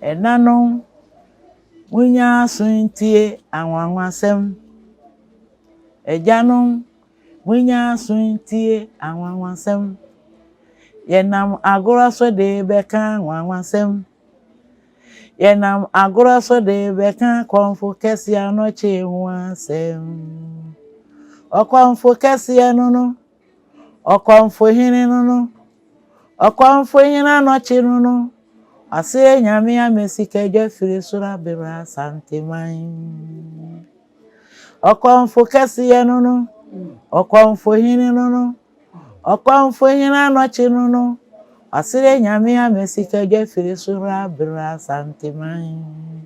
Ɛnanom, monyɛ aso ntie anwanwasɛm. Agyanom, monyɛ aso ntie anwanwasɛm. Yɛnam agorɔ so de bɛka anwanwasɛm. Yɛnam agorɔ so de bɛka kɔmfo kɛseɛ anɔkye ho asɛm. Ɔkɔmfo kɛseɛ no no Ɔkɔmfohene no no. Ɔkɔmfohene anɔkye no no. Ɔseɛ Nyame ama sikadwa firi soro abema Asanteman. Ɔkɔmfo kɛseɛ no no. Ɔkɔmfohene no no. Ɔkɔmfohene anɔkye no no. Ɔseɛ Nyame ama sikadwa firi soro abema Asanteman.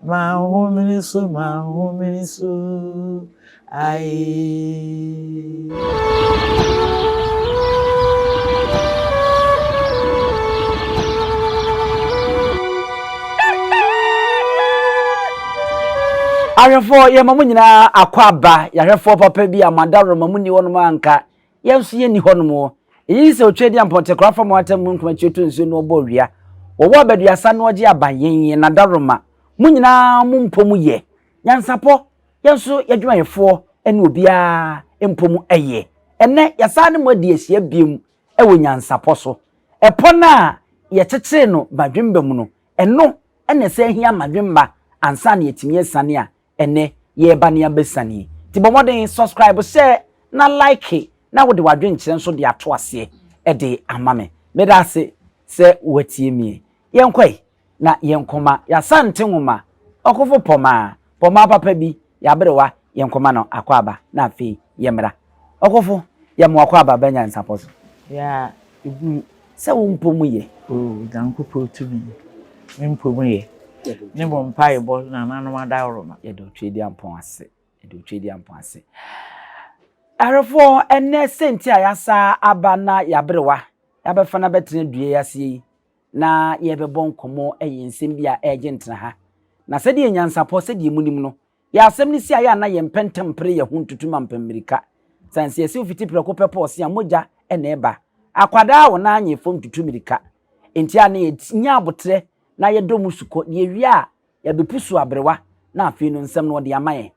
M'ahome so, m'ahome so, aye. Ahwɛfoɔ yɛma mo nyinaa akɔ aba yɛahwɛfoɔ papa bi a mada roma mo nni hɔnom anka yɛn nso yɛnni hɔnom wɔ. Eyi sɛ otwa di ampɔnte kora fam ɔatam mu nkuma ti otu nsuo na ɔbɔ owia. Wɔwɔ abaduasa na ɔgye aban yɛn yɛn nadaroma. Mo nyinaa mo mpɔ mu yɛ. Nyansapɔ, yɛn nso yɛdwumayɛfoɔ ne obiara mpɔ mu yɛ. Ɛnnɛ yɛasan ne mo adi ahyia biom wɔ nyansapɔ so. Ɛpɔ no a yɛkyekyere no badwemba mu no, ɛno na ɛsan hia ma dwemba ansa na yɛatumi asiane a Ɛnɛ yɛreba ne abɛsa nie nti bɔ mmɔden subscribe, share na like na wode w'adwenkyerɛ nso de ato aseɛ de ama me. Meda ase sɛ woatie mie. Yɛnkɔ ɛ na yɛnkɔma y'Asante nwoma ɔkofo Pɔmaa, Pɔmaa papa bi, y'aberewa, yɛnkɔma no akwaaba na afei yɛmmra. Ɔkofo, yɛ mo akwaaba bɛ nyansapɔ so. Yɛ a ebu. Sɛ wo mpo mu yɛ. O Nyankopɔn tumi, me mpo mu yɛ. Ne mo mpaebɔ nananom adaworo no. Yɛda wo Tweduampɔn ase, yɛda wo Tweduampɔn ase. Awerɛfoɔ, ɛnnɛ sɛ nti a yɛasa aba na yɛaberewa, yɛabɛfa no abɛtena dua yi aseɛ yi, na yɛrebɛbɔ nkɔmmɔ, ɛyɛ nsɛm bi a ɛregye ntena ha. Na sɛdeɛ nyansapɔ, sɛdeɛ monim no, Yɛ asɛm no si a yɛ a na yɛ mpɛ ntɛm pere yɛ ho ntutu ma mpɛ mmirika sane sɛ yɛ siw fiti prɛko pɛ pɔɔ se a mogya na ɛba akwadaa a wɔn anyɛ fam tutu mmirika nti a na yɛ nya aboterɛ na yɛ dɔ mu sukɔ deɛ wie a yɛ bɛ pusu abrewa na afei no nsɛm no wɔde ama yɛn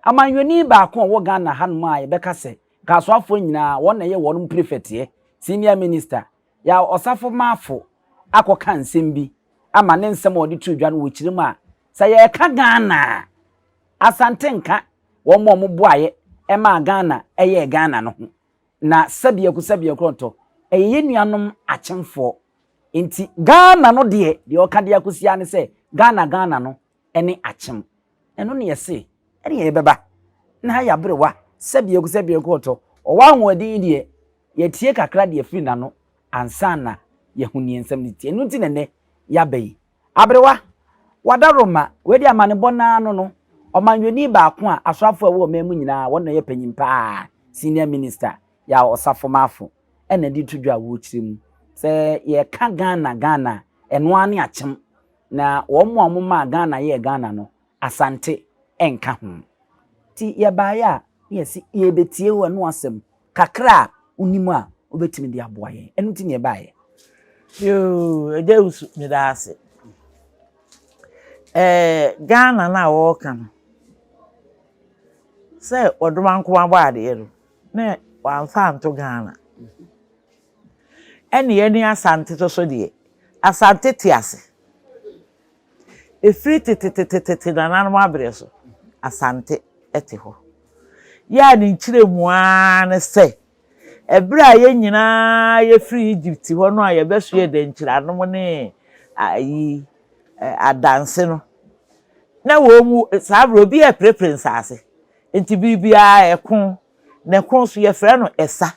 amanyɔni baako a ɔwɔ Ghana ha nom a yɛ bɛ ka sɛ Kasoafoɔ nyinaa wɔn na ɛyɛ wɔnom prefɛteɛ senior minister yɛ ɔsafo maafo akɔ ka nsɛm bi ama ne nsɛm a ɔde too dwa no wɔ kyire mu a Sɛ yɛreka Ghana a, Asante nka wɔn a wɔboaeɛ maa Ghana yɛɛ Ghana no ho. Na sɛbiako sɛbiako ɔtɔ, ɛyɛ yɛn nuanom akyemfoɔ. Enti Ghana no deɛ, deɛ ɔka de akɔsi ara ne sɛ, Ghana Ghana no ne akyem. Ɛno na yɛse ɛne ɛbɛba. Na ha yɛ aberewa, sɛbiako sɛbiako ɔtɔ. Ɔwɔ ahoɔden yi deɛ, yɛatie kakra de afiri n'ano ansa na yɛahu deɛ nsɛm no teɛ. Ɛno nti na ɛnnɛ yɛaba yi. Aberewa, Wada Roma, wei deɛ amanebɔ no ara no no, ɔmanyɔni baako a asoafoɔ a ɛwɔ ɔman mu nyinaa wɔn na ɔyɛ panyin pa ara, senior minister, Yaw Osafomafo, ɛna de reto dwa a wɔrekyerɛ mu. Sɛ yɛreka Ghana Ghana a, ɛno ara ne akyem, na wɔn a wɔmaa Ghana yɛɛ Ghana no, Asante nka ho. Nti yɛbaeɛ a, na yɛse yɛrebɛtie wo ɛno asɛm, kakra a wonim a wobɛtumi de aboa yɛn. Ɛno nti na yɛbaeɛ. Yoo, Agya Owusu, meda ase. Ɛɛ, Ghana no a wɔreka no, sɛ wɔdoma nko abɔ adeɛ no, na wɔamfa anto Ghana. Ɛne yɛne Asante to so deɛ, Asante te ase. Ɛfiri tetetetete nananom aberɛ so, Asante te hɔ. Yɛ a ne nkyerɛmu ara ne sɛ, ɛberɛ a yɛn nyinaa yɛfiri Egypt hɔ no a yɛbɛsoɛɛ dɛnkyiranom ne ayi adanse no, na wɔn mu saa berɛ obi reprepre nsaase. Nti biribiara ɛko, na ɛko nso yɛfrɛ no ɛsa.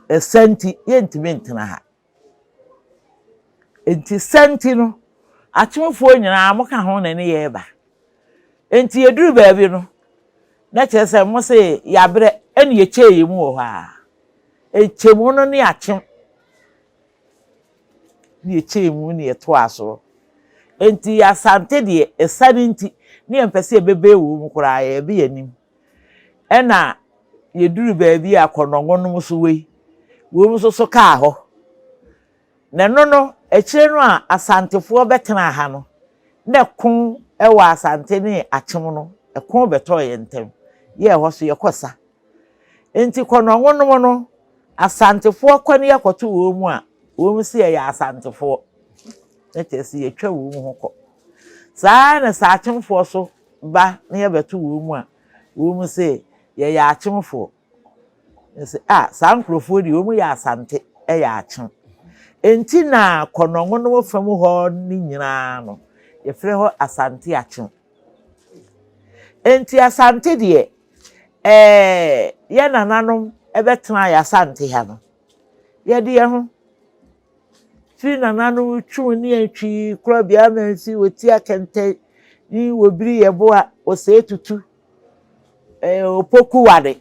Ɛsa nti yɛntumi ntena ha. Enti sɛ nti no, atomfoɔ nyinaa moka ho na ne yɛreba. Enti yɛduru baabi no, na kyerɛ sɛ mo se yɛabrɛ ɛne yɛkyɛɛ yɛ mu wɔ hɔ ara. Nkyɛmu no ne akyem ne yɛkyɛɛ mu ne yɛtoa soɔ. Enti yɛ Asante deɛ, ɛsiane nti ne yɛmpɛ sɛ yɛbɛbɛn wɔ mu koraa, yɛrebɛ yɛn anim. Ɛnna yeduruu baabi a kɔnnɔngonom so wei wom nso so kaa hɔ. Na ɛno no, akyire no a Asantefoɔ bɛtenaa ha no, na ɛko wɔ Asante ne Akyem no, ɛko bɛtɔɔ yɛn ntam, yɛɛ hɔ so yɛkɔ sa. Enti kɔnnɔngonom no, Asantefoɔ kɔ na yɛkɔto wɔn mu a, wɔn se yɛyɛ Asantefoɔ, na kyerɛ sɛ yɛtwa wɔn ho kɔ. Saa ara na sɛ Akyemfoɔ so ba na yɛbɛto wɔn mu a, wɔn se yɛyɛ akyemfoɔ. Yɛse ah saa nkorɔfoɔ deɛ wɔn yɛ Asante ɛyɛ akyem. Enti na Kɔnɔngonom fa mu hɔ no nyinaa no yɛfrɛ hɔ Asante akyem. Enti Asante deɛ ɛɛ yɛn nananom ɛbɛtenaeɛ Asante ha no, yɛde yɛn ho. Firi nananom twum ne atwi kura bia ma nsi wɔ ti akɛntɛ ni wɔ biri yɛ bo a wɔ sɛ etutu ɛɛ opoku wade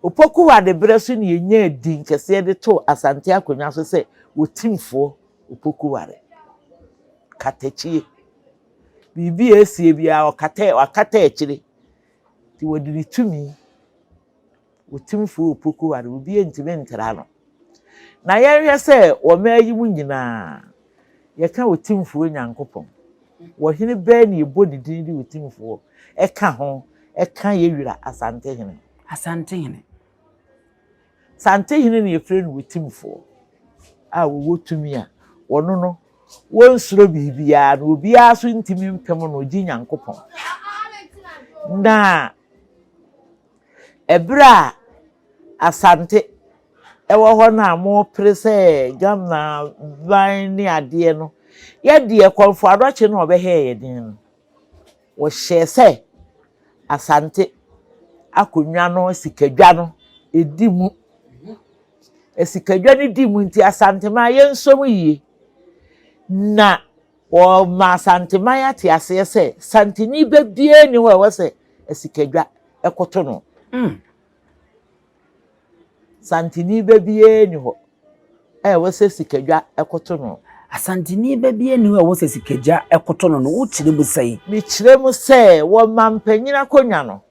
opoku wade berɛ so ne yɛnya din kɛseɛ de to asante akonnwa so sɛ wɔ timfoɔ opoku wade katakyie biribi a esie biara ɔkata wakata akyire ti wɔde ne tumi. Otumfoɔ Opoku ware obiara ntumi ntra no. Na yɛnhwɛ sɛ wɔ mmaa yi mu nyinaa yɛka Otumfoɔ Nyankopɔn, ɔhene bɛn na yɛbɔ ne din de Otumfoɔ ka ho ka yɛn wura Asantehene? Asantehene. Asantehene na yɛfrɛ no Otumfoɔ a ɔwɔ tumi a ɔno no wɔnsuro biribiara na obiara nso ntumi mpem no, ɔgye Nyankopɔn. Na Ɛberɛ a Asante wɔ hɔ no a mopere sɛ Ghana ban ne adeɛ no, yɛdeɛ Kɔmfo Adɔkye na ɔbɛhɛɛ yɛn den no, wɔhyɛɛ sɛ Asante akonnwa no asikadwa no ɛdi mu. Asikadwa no di mu nti Asanteman yɛnsɔ mu yie na Wɔma Asanteman ate aseɛ sɛ Santeni ba biara nni hɔ a ɛwɔ sɛ Asikadwa koto no. Santeni ba biara nni hɔ a ɛwɔ sɛ Asikadwa koto no. Asanteni ba biara nni hɔ a ɛwɔ sɛ Asikadwa koto no no, wokyerɛ mu sɛn? Mekyerɛ mu sɛ wɔ ɔmampanyin akonnwa no,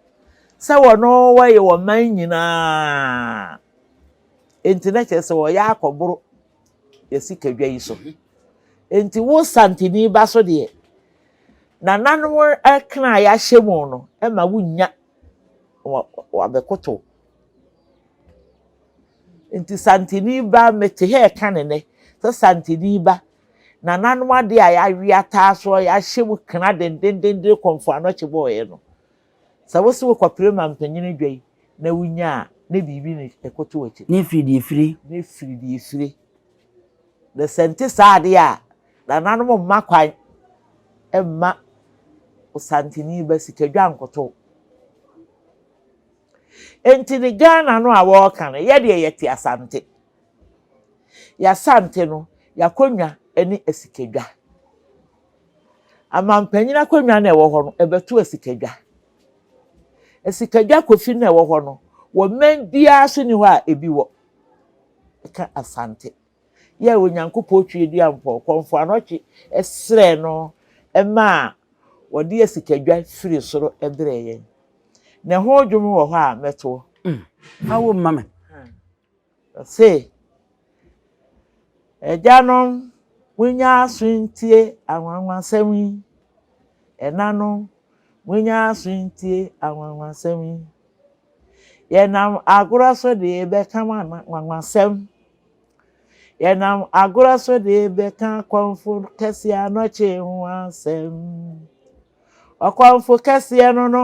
sɛ wɔno wɔyɛ wɔ ɔman nyinaa a, enti na kyerɛ sɛ wɔyɛ akɔboro yɛasi kadwa yi so. Enti wo santini ba so deɛ, nananom ɛkena a yɛahyɛ mu no ɛma wonnya wabɛkoto. Enti santini ba mete hɛ ɛka ne nɛ sɛ santini ba nananom adeɛ a yɛawe ataa soɔ yɛahyɛ mu kena dendendenden kɔmfo anɔkye bɔɔyɛ no. Sɛ wo se wokɔpere mampanyin adwa yi na wunya a, na biribi na ɛkɔto w'akyi. Ne firi deɛ fire. Ne firi deɛ fire. Na sɛ nte saa adeɛ a, nananom mma kwan mma Osantini ba sikadwa nkoto. Enti ne Ghana no a wɔreka no, yɛ deɛ yɛte Asante. Yɛasante no, yɛakɔnwa ne asikadwa. Amampanyin akonnwa no a ɛwɔ hɔ no, ɛbɛto asikadwa. Asikadwa kofi no a ɛwɔ hɔ no, wɔ mmɛn biara so ni hɔ a ebi wɔ. Ɛka Asante. Yɛ Onyankopɔn twi dua mpɔ, kɔnfo anɔtwe ɛsrɛ no ɛma a wɔde asikadwa firi soro ɛbrɛ yɛn. Na ɛho dwom wɔ hɔ a mɛtoɔ. Mm. Awo mma me. Ɔse, Agyanom, monnya aso ntie anwanwasɛm yi, ɛnanom, monnya aso ntie anwanwasɛm yi. Yɛnam agorɔ so de rebɛka mo anwanwasɛm, yɛnam agorɔ so de rebɛka kɔmfo kɛseɛ anɔkye ho asɛm. Ɔkɔmfo kɛseɛ no no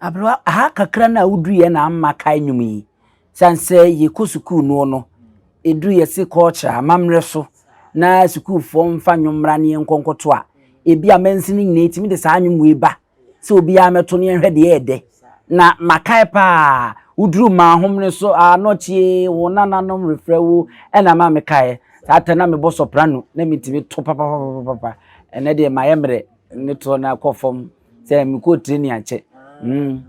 Aberewa, aha kakra no a woduruiɛ na ama kae nnwom yi. Sane sɛ yɛkɔ sukuu noɔ no, ɛduru yɛse culture, amammerɛ so, na sukuufoɔ mfa nnwom mmra ne yɛnkɔ nkɔto a, ɛbi a mansin no nyinaa ɛtumi de saa nnwom wei ba sɛ obiara mmɛto ne yɛnhwɛ deɛ ɛyɛ dɛ. Na makae paa, woduru Maahomene so, Anɔkyee, wo nananom refrɛ wo, ɛna ama mekaeɛ. Saa time no na mebɔ soprano, na metumi to papapapapa. Ɛnnɛ deɛ mayɛ mmerɛ, metoɔ no ara kɔ fam. sɛ mekɔ tire ne akyɛ mm.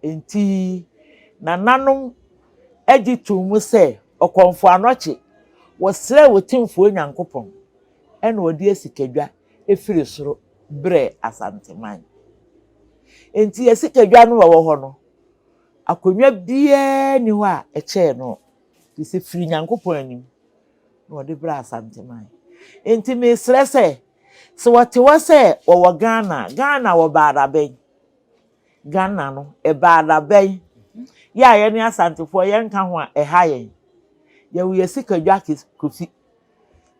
Enti nananom agye to mu sɛ ɔkɔmfo anɔkye wɔsrɛɛ Otumfoɔ Nyankopɔn ɛna ɔde asikadwa efiri soro brɛɛ Asanteman. Enti asikadwa no wɔ hɔ no akonnwa biara ni hɔ a ɛkyɛɛ no te sɛ firi Nyankopɔn anim na ɔde brɛɛ Asanteman. Enti mesrɛ sɛ Sɛ wɔte hɔ sɛ wɔwɔ Ghana a, Ghana wɔ baadabɛn. Ghana no, baadabɛn. Yɛ a yɛne Asantefoɔ yɛnka ho a, ɛha yɛn. Yɛwɔ yɛn sikadwa kosi.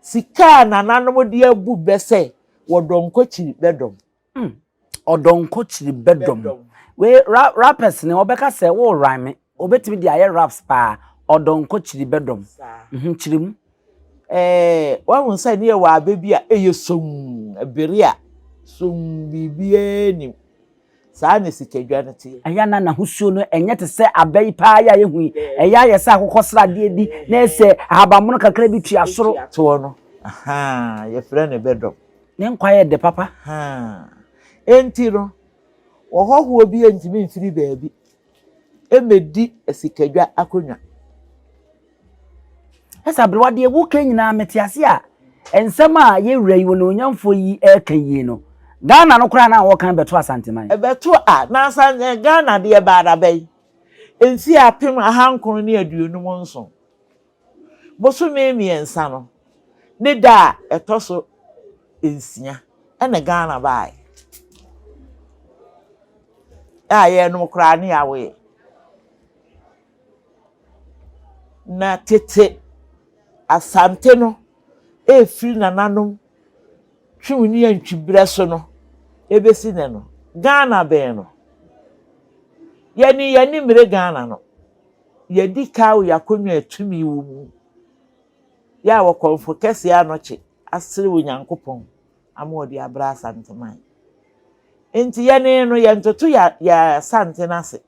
Sika a nananom de abu bɛ sɛ wɔdɔm kɔkyiri bɛdɔm. Mm. Ɔdɔ nko kyiri bɛdɔ mu. Wei ra rappers ne wɔbɛka sɛ wo rhyme. Obetumi de ayɛ raps paa. Ɔdɔ nko kyiri bɛdɔ mu. Mhm, kyiri mu. Eh, wahu sɛ ne yɛwɔ abɛ bi a ɛyɛ somm, ɛbere a somm biribiara nim. Saa na sikadwa no te. Ɛyɛ a na n'ahosuo no ɛnyɛ te sɛ abɛ yi paa yɛ a yɛhu yi. Ɛyɛ a yɛ sɛ akokɔsradeɛ bi na ɛsɛ ahabanmono kakra bi tua soro. Toɔ no, ahaa, yɛfrɛ no bɛdɔm. Ne nkwa yɛ dɛ papa haa. Enti no, ɔhɔhoɔ biara ntumi mfiri baabi mmɛdi asikadwa akonnwa. Ɛsɛ aberewa deɛ woka nyinaa mete ase a nsɛm a yɛ wura yi onuonyamfoɔ yi ɛka yi no Ghana no koraa na wɔkan bɛto Asanteman. Ɛbɛto a na asan eh Ghana deɛ ɛbaa dabɛn mfeɛ apem ahankron ne aduonum nson. Bosome mmiɛnsa no, ne da a ɛtɔ so nsia na Ghana baeɛ a yɛnom koraa ne yɛawoeɛ. Na tete Asante no ɛfiri nananom Twum ne Antwi berɛ so no ɛbɛsi nnɛ no, Ghana bɛn no? Yɛne yɛn ani mmere Ghana no. Yɛadi kaw y'akonnwa a tumi wɔ mu, yɛ a w'ɔkɔmfo kɛse anɔkye asere Onyankopɔn ama ɔde abrɛ Asanteman. Enti yɛne no yɛntoto yɛ yɛ asanten ase.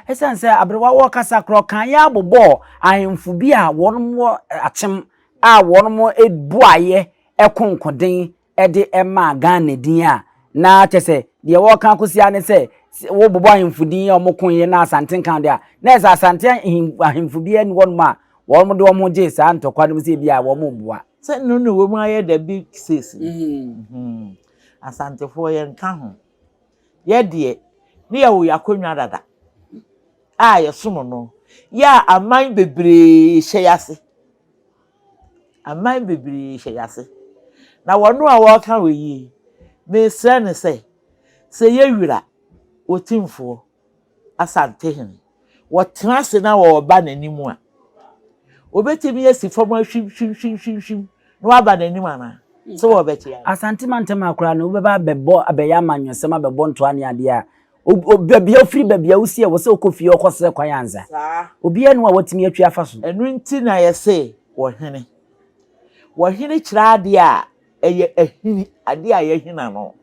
Esiane sɛ aberewa wɔ kasa korɔ kan yɛ a bobɔɔ ahemfo bi a wɔn wɔ akyem a wɔn boaeɛ ɛkonkoden de maa Ghana din a, na kyerɛ sɛ deɛ wɔreka akɔsi ara ne sɛ, sɛ wobobɔ ahemfo din a wɔkoeɛ na Asante nka ho deɛ a, na ɛsɛ sɛ Asante ahen ahemfo biara nni hɔnom a wɔde wɔn ho gyee saa ntɔkwa no mu sɛ ebia wɔreboa. Sɛ nnuru na ɛwɔ mu ara yɛ dɛ bi seesei no, hmm, Asantefoɔ yɛnka ho. Yɛ deɛ, ne yɛwɔ yɛn akonnwa dada a yɛsom no, yɛ a aman bebree hyɛ yɛn ase. Aman bebree hyɛ yɛn ase. Na wɔn a wɔreka wɔ yie yi, mesrɛ no sɛ, sɛ yɛ Wira Otimfoɔ Asantehene, wɔtena ase na wɔba n'anim a, wɔbɛtumi asi fam ahwimhwimhwimhwim na wɔaba n'anim anaa? Sɛ wɔbɛte a. Asante mantam ha koraa no, wobɛba abɛbɔ abɛyɛ amanyɔsɛm, abɛbɔ ntoa ne adeɛ a, Ob ob baabi a wofiri, baabi a wosi a ɛwɔ sɛ wokɔ fie hɔ kɔsrɛ kwan ansa. Saa. Obiara nni hɔ a watumi atwi afa so. Ɛno nti na yɛse ɔhene. Ɔhene kyerɛ adeɛ a ɛyɛ ahini, adeɛ a yɛahini ano.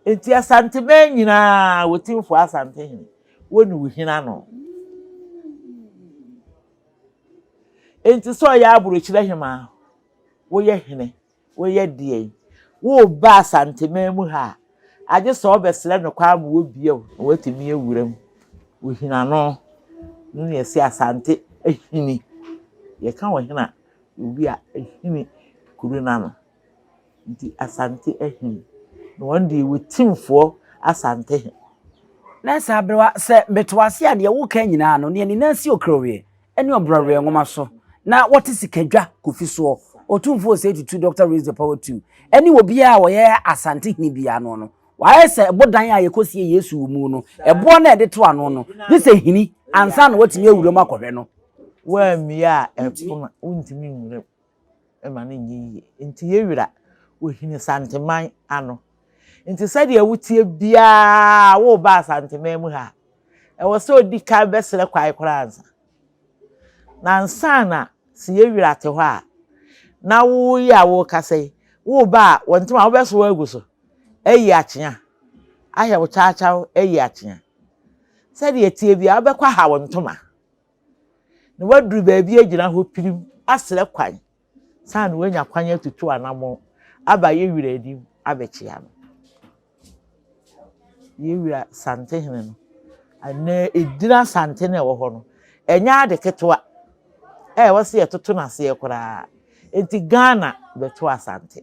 Enti Asanteman nyinaa, Otimfoɔ Asantehene, wo ne wo hini ano. Enti sɛ ɔyɛ Aburokyire Hemaa, woyɛ hene. Woyɛ deɛn? Woreba Asanteman mu ha a, agye sɛ wobɛsrɛ no kwan ma wabue wo na woatumi awura mu. Ohina no, ɛno na yɛse Asante ahini. Yɛka ɔhene a, ɛyɛ obi a ahini kuru no ano. Nti Asante ahini. Na wɔn deɛ wɔ Timfoɔ Asantehe. Nurse Aberewa, sɛ mete wo ase a, deɛ woreka nyinaa no, nea ne nan si okuro wie. ne ɔbrɔabrɔɛ nwoma so na wɔte sikadwa kofi soɔ, Otumfoɔ Osei Tutu, Doctor Raise the Power Two, ne obiara a ɔyɛ Asante hene biara ano no, wayɛ sɛ ɛbodan a yɛkɔsie Yesu wɔ mu no, ɛboɔ no a yɛde to ano no, gye sɛ hini ansa na watumi awura mu akɔhwɛ no. Woammue a, ɛpono a wontumi nwura mu. ma no nyɛ yie. Enti yɛ werɛ wɔ Hene Santeman ano. Enti sɛdeɛ woteɛ biara woreba Asanteman mu ha a, ɛwɔ sɛ ɔdi kan bɛsrɛ kwan koraa ansa. Na ansa na sɛ yɛ werɛ ate hɔ a, na wo yi a worekasa yi, woreba a wɔn ntoma wobɛsoa agu so ayi akyea, ahwɛ wo kyaakyaw ayi akyea. Sɛdeɛ ɛteɛ biara wobɛkɔ aha wo ntoma na waduru baabi agyina hɔ pirim asrɛ kwan ansa na wanya kwan atutu anammɔn aba yɛn wura anim abɛkyia no. Yɛn wura Santehene no, anaa edin Asante no a ɛwɔ hɔ no, ɛnyɛ ade ketewa a ɛwɔ sɛ yɛtoto no aseɛ koraa. Enti Ghana bɛto Asante.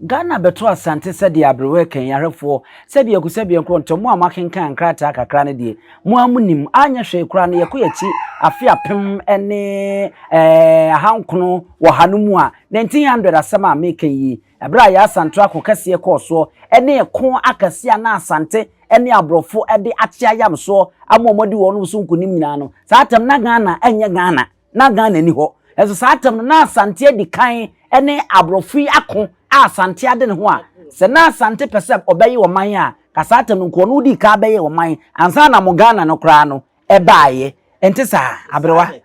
Ghana bɛto Asante sɛdeɛ aberewɛ kan yi ahwɛfoɔ sɛbiako sɛbiankorɔ ntɔ mo a mo akenkan nkrataa kakra no deɛ mo ara mo nim anyɛ hwee koraa no yɛkɔ yɛakyi afe apem ne eh, ahankono wɔ ha no mu a 1900 asɛm a meka yi ɛberɛ a yɛasanto ako kɛseɛ kɔɔ soɔ ɛne ɛko akɛseɛ a na Asante ɛne aborɔfo ɛde akye ayamsoɔ ama wɔn adi wɔn so nkonim nyinaa no saa tɛm na Ghana ɛnyɛ Ghana na Ghana nni hɔ. Nanso saa tam no, na Asante adi kan ne aborɔfo yi ako a Asante ade ne ho a, sɛ na Asante pɛ sɛ ɔbɛyɛ ɔman a, ka saa tam no nko, ɔno dii kan bɛyɛɛ ɔman ansa na mo Ghana no koraa no baeɛ. Ɛnte saa, aberewa?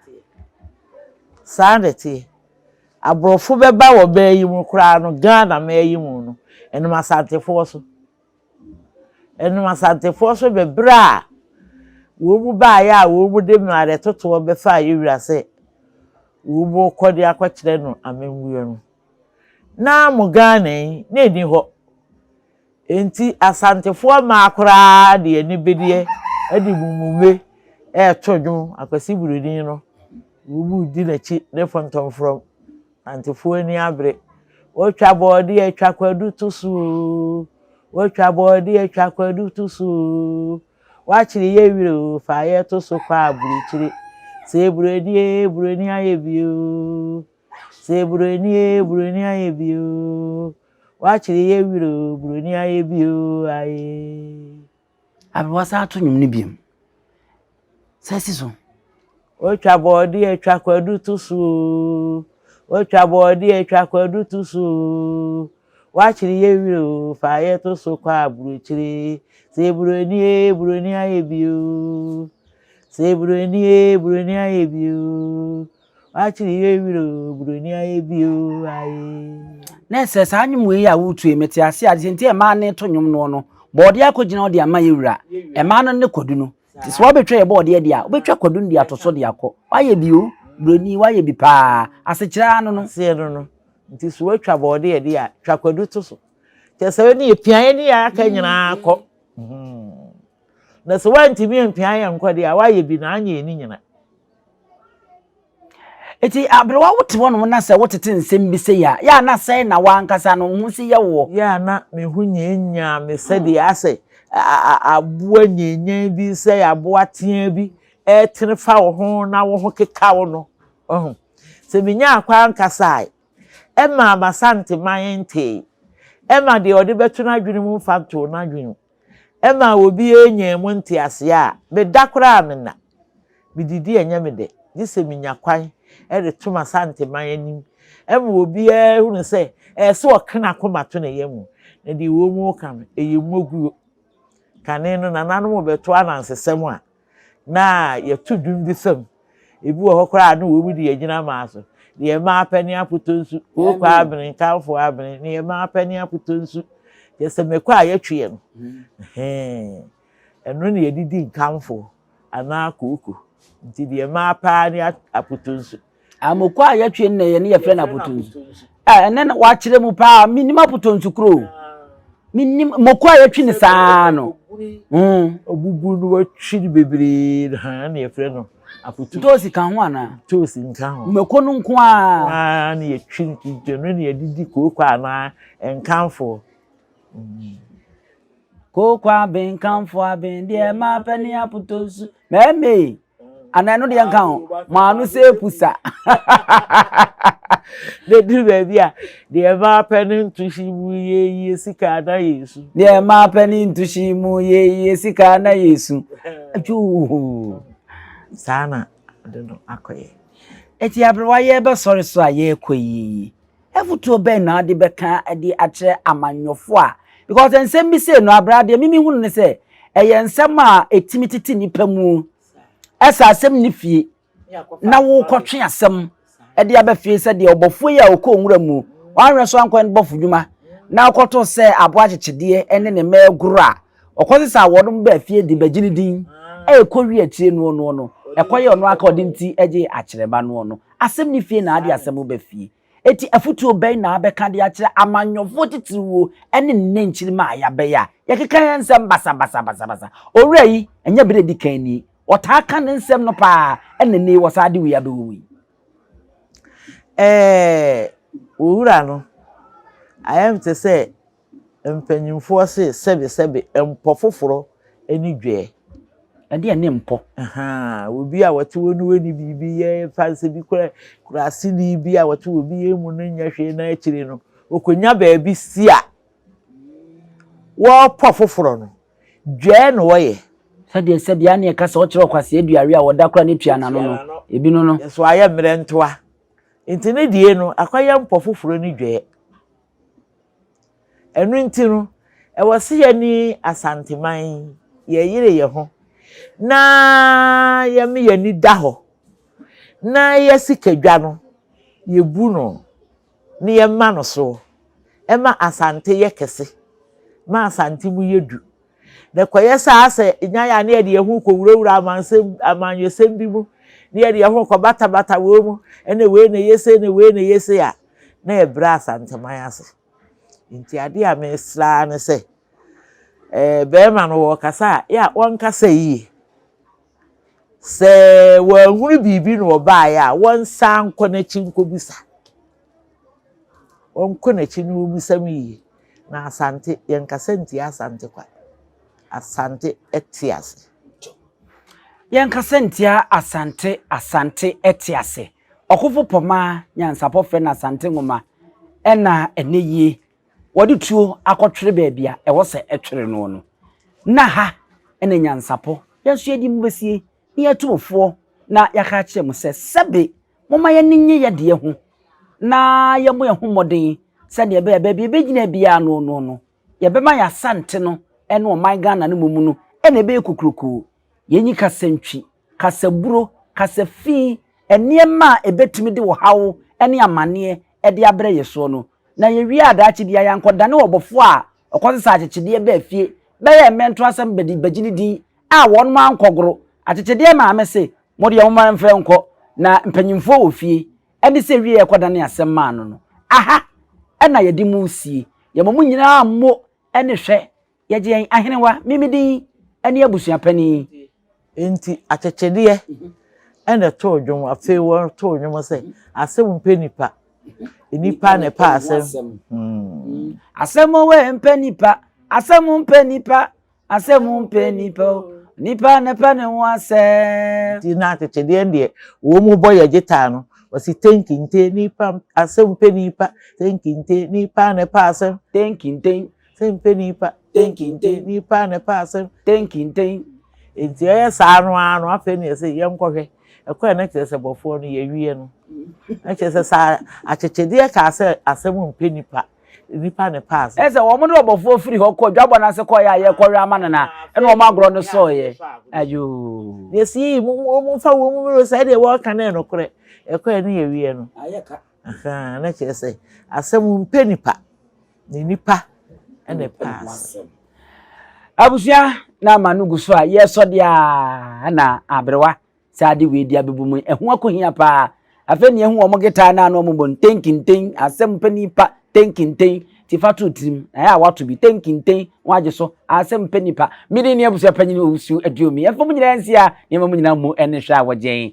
Saa na ɛteɛ. Aborɔfo bɛba wɔ bɛn yi mu koraa no, Ghana man yi mu no, ɛnam Asantefoɔ so. Ɛnam Asantefoɔ so bɛbrɛ a wɔn baeɛ a wɔn de mmerɛ totoɔ bɛfaa Yewura sɛ wɔn rekɔ de akɔkyerɛ no amammuo no, na mo Ghana yi na ɛnni hɔ. Enti Asantefoɔ mmaa koraa de anibereɛ de mummume reto dwom Akwasi Buroni no, wɔredi n'akyi ne fɔntɔmfrɔm Nantefoɔ ani abere. Wotwa bɔɔdeɛ atwa kwadu to so oo. Wotwa bɔɔdeɛ atwa kwadu to so oo. Wakyere yɛ werɛ oo, fa yɛ to so kɔ aburokyire. Sɛ eburo ni ee, eburo ni ayɛ bi oo. Sɛ eburo ni ee, eburo ni ayɛ bi oo. Wakyere yɛ werɛ oo, eburo ni ayɛ bi oo, ayee. Afei wɔasan ato nnwom no bio. San si so. Wotwa bɔɔdeɛ twa kwadu to so oo. Wotwa bɔɔdeɛ twa kwadu to so oo. Woakyere yɛn werɛ oo, fa yɛn to so kɔ aburokyire. Sɛ buroni ee, buroni ayɛ bi oo. Sɛ buroni ee, buroni ayɛ bi oo. Wakyere yɛn werɛ o, buroni ayɛ bi o, aye. Na ɛsɛ saa nnwom wei a woretu yi, mete ase a, deɛ nti a mmaa no reto nnwom noɔ no, bɔɔdeɛ akɔgyina hɔ de ama yɛ wura. Mmaa no ne kwadu no. Nti sɛ woabɛtwa yɛ bɔɔdeɛ deɛ a, wobɛtwa kwadu no de ato so de akɔ. Woayɛ bi o, buroni, woayɛ bi paa. Asekyerɛ ara no no. Aseɛ no no. Nti sɛ woatwa bɔɔdeɛ deɛ a, twa kwadu to so. Kyerɛ sɛ wei ne yɛpia yɛ ne yɛ aka nyinaa kɔ. Na sɛ woantumi ampia yɛ nkɔ deɛ a, woayɛ bi na anyɛ yɛ ne nyina. Eti aberewa wo te hɔnom na sɛ wotete nsɛm bi sei a, yɛ a na sɛn na w'ankasa no wo ho si yɛ woɔ? Yɛ a na me ho nyanyan me sɛdeɛ asɛ aboa nyanyan bi sɛ aboa teaa bi retene fa wo ho na wo ho keka wo no. Wahu? Sɛ menya akwan kasa a, ɛma m'Asante man ntee. Ɛma deɛ ɔde bɛto n'adwene mu mfa ntoo n'adwene mu. Ɛma obiara nyaa mu nteaseɛ a meda koraa menna. Medidi ɛnyɛ me dɛ, gye sɛ menya kwan de to m'Asanteman anim ma obiara hunu sɛ ɛyɛ sɛ ɔka n'akoma to ne yam, na deɛ ɛwɔ mu reka no, ɛyɛ mmoguo. Kane no nananom rebɛto anansesɛm a. na yɛto dwom bi sɛ ebi wɔ hɔ koraa na wɔn de yɛgyina maa so ne yɛn mma apɛ ne apotɔ nsu kooko abene nkanfo abene ne yɛn mma apɛ ne apotɔ nsu yɛ sɛ mɛkɔ a yɛtwe yɛn hmm. ɛno na yɛde di nkanfo anaa kooko nti deɛ mmaa paa ne apotɔ nsu Amokɔ a yɛtwe nnɛ yɛ ne yɛfrɛ no apotɔnsu. Ɛnɛ na wɔakyerɛ mu paa menim apotɔnsu kuro. Menim moko a yɛtwe no saa no. Ɔbubu hmm. no wɔtwe no bebree no ha na yɛfrɛ no apotɔnsu. Ntoosi ka ho anaa? Ntoosi nka ho. Mako no nko ara. Waa na yɛtwe no kigya no na yɛde di kooko anaa nkanfoɔ. Hmm. Kooko aben kanfoɔ aben deɛ ɛma pɛ ne apotɔnsu. Mɛmee. anaa ɛno deɛ nka ho maa no sɛ pusa na di baabi a deɛ ɛmaa pɛ ne ntohyi mu yɛyie sika na yɛsu deɛ ɛmaa pɛ ne ntohyi mu yɛyie sika na yɛsu twuu saa na de no akɔyɛ ɛti aberewa yɛbɛsɔre so a yɛrekɔ yie Afotuo bɛn na ɔde bɛka de akyerɛ amanyɔfoɔ a, because nsɛm bi sei no aberɛ adeɛ mimi hunu ne sɛ ɛyɛ nsɛm a ɛtumi tete nipa mu ɛsɛ asɛm ne fie na wokɔtwe asɛm ɛde aba fie sɛ deɛ ɔbɔfoɔ yi a ɔkɔ nwura mu wanhwɛ so ankɔ ne bɔfo dwuma na ɔkɔto sɛ aboa kyekyedeɛ ne ne mɛɛgoro a Ɔkɔsesaa wɔnom baa fie de bɛgye ne din. Ɛrekɔ wie akyire noɔ noɔ no, ɛkɔyɛɛ ɔno ara ka ɔde ne ti gyee akyerɛba noɔ no. Asɛm ne fie na ade asɛm ba fie. Enti afotuo bɛn na wobɛka de akyerɛ amanyɔfoɔ titiriwuo ne nnɛ nkyirimma a yɛabɛyɛ a yɛkeka yɛn nsɛm basabasa basabasa? Owura yi, ɛnyɛ berɛ a ɛdi kan nie. Ɔtaa ka ne nsɛm no pa ara, ɛna ɛnnɛ yi ɔsan de wei abɛwɔ mu yi. Ɛɛ, owura no, ayɛ te sɛ Mpanyimfoɔ se sɛbesɛbe mpɔ foforɔ ne dwɛɛ. Ɛdeɛ ne mpɔ. Ahaa, obi a wɔte hɔ no wɔ ne biribi yɛ fa no sɛ bi kora kora aseni bi a wɔte wɔ bi yɛ mu no nyɛ hwee na akyire no ɔkɔnya baabi si a wɔpɔ foforɔ no, dwɛɛ na wɔyɛ. Sɛdeɛ sɛbea ne ɛka sɛ ɔkyerɛ ɔkwasea dua we a wɔda kora no tua n'ano no, ebinom no. Nso ayɛ mmerɛntoa. Nti ne deɛ no akɔyɛ mpɔ foforɔ ne dwɛɛ. Ɛno nti no, ɛwɔ sɛ yɛne Asanteman yɛyere yɛn ho na yɛma yɛn ani da hɔ na yɛ sikadwa no yɛbu no na yɛma no soɔ ɛma Asante yɛ kɛse ma Asante mu yɛ du Na ɛkɔyɛ saa sɛ nya yɛ a na yɛde yɛn ho rekɔwurawura amansɛm, amanyɔsɛm bi mu, na yɛde yɛn ho rekɔbatabata wɔn mu, ɛnna wei na ɛyɛ sei na wei na ɛyɛ sei a, na yɛbrɛ Asanteman ase. Nti adeɛ a mesra ara ne sɛ, eh, bɛrima no wɔkasa a, yɛ a wɔnkasa yie. Sɛ wɔahunu biribi na wɔbaeɛ a, wɔnsan nkɔ n'akyi nkɔbisa. Wɔnkɔ n'akyi na wɔmmisa no yiye. Na Asante, yɛnkasa ntia Asante kwa. Asante te ase. Yɛnkasa ntia Asante, Asante te ase. Ɔkofo Pɔma nyansapɔ frɛ no Asante nwoma na ɛnnɛ yi wɔde tuo akɔtwere baabi a ɛwɔ sɛ ɛtwere no no. Na ha na nyansapɔ yɛ nso yɛde mu besie. na yɛatu mo foɔ na yɛaka akyerɛ mo sɛ, Sɛbe momma yɛn ani nnye yɛn deɛ ho, na yɛmmɔ yɛn ho mmɔden sɛdeɛ ɛbɛyɛ a baabi a yɛbɛgyina biara no no no, yɛbɛma yɛn Asante no ne ɔman Ghana no mmom no na ɛbɛyɛ kokurokoo. Yɛnyi kasantwi, kasaburo, kasafi, nneɛma a ɛbɛtumi de ɔhaw ne amanneɛ de abrɛ yɛn soɔ no, na yɛwie a daakye biara yɛankɔdane ɔbɔfoɔ a Ɔkɔ sesaa akyekyedeɛ baa fie bɛyɛɛ mmɛnto asɛm bɛdi bagye ne din a wɔnom ankɔgoro. Akyekyedeɛ maame se, Mo deɛ momma yɛmfa nkɔ na mpanyimfoɔ wɔ fie. Ɛne sɛ wieɛ kɔdane asɛm maa no no. Aha na yɛde mo resie. Yɛma mo nyinaa mmo ne hwɛ. Yɛgye yɛn ahenewa, me me din ne abusua panin. Enti akyekyedeɛ na ɛtoo dwom. Afei wɔtoo dwom sɛ, Asɛm mpɛ nipa, nipa na ɛpɛ asɛm. Hmm. Asɛm wɔ mpɛ nipa, asɛm mpɛ nipa, asɛm mpɛ nipa o. Nipa na ɛpɛ ne ho asɛm. Nti na akyekyedeɛ deɛ wɔn mu bɔ yɛ gyetaa no. Wɔsi tenkinte nipa, asɛm mpɛ nipa, tenkinte nipa na ɛpɛ asɛm. Tenkinte. Sɛmpɛ nipa. Tenkenten. Nipa na ɛpɛ asɛm. Tenkenten. Nti ɛyɛ saa no ara no afei na yɛsɛ yɛnkɔhwɛ ɛkwan na kyerɛ sɛ bɔfoɔ no yɛwie no. Na kyerɛ sɛ saa akyekyedeɛ kaa sɛ asɛm mpɛ nipa. Nipa na ɛpɛ asɛm. Ɛsɛ wɔn ne ɔbɔfoɔ firi hɔ kɔ dwabɔ no ase kɔeɛ a yɛkɔwɛn ama no na ɛna wɔn agorɔ no sɔeɛ. Ayoo. Yɛsii mu mu wɔn mfa wɔn mu mmiri sɛ ɛdeɛ wɔreka no yɛ nokorɛ. Ɛkwan na yɛwie no. Ahaa, na kyerɛ sɛ asɛm mpɛ nipa, na nipa na ɛpɛ asɛm. Abusua na ama no gu so a yɛsɔ deɛ a na aberewa saa de wei di abɛbu mu ɛho akohia paa afei ne ɛho wɔn getaa na ano wɔn bɔ ntenkinten asɛm pɛ nipa tenkinten ti fa to tirim na yɛ a wato bi tenkinten wɔn agye so asɛm pɛ nipa mmiri ne abusua panyin owusu aduomi ɛfam nyinaa nsia nneɛma mu nyinaa mu ɛne hwɛ a wɔgyɛn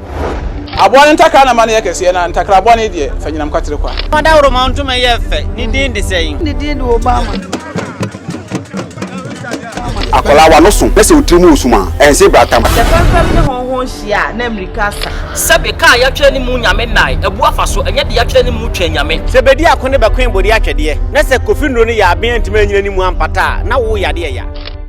Aboa no ntakra na ma no yɛ kɛseɛ, na ntakra bɔne deɛ, fa nyinam kwatere kwa. Fa dawuroma ntoma yɛ fɛ, ne din de sɛn? Ne din de Obama. Akwadaa w'ano so na sɛ wo tiri mu resum a, ɛnse brata ma. Sɛ fɛmfɛm ne hɔnhɔn hyia a, na mmirika asa. Sɛbe kaa a yɛatwerɛ ne mu Nyame nnae, abu afa so, ɛnyɛ de yɛatwerɛ ne mu Twɛn Nyame. Sɛ bedi ako ne bɛkoe bode atwɛdeɛ, na sɛ kofi nnuro no yɛ aben antumi annyina ne mu ampata a, na wo yadeɛ ya.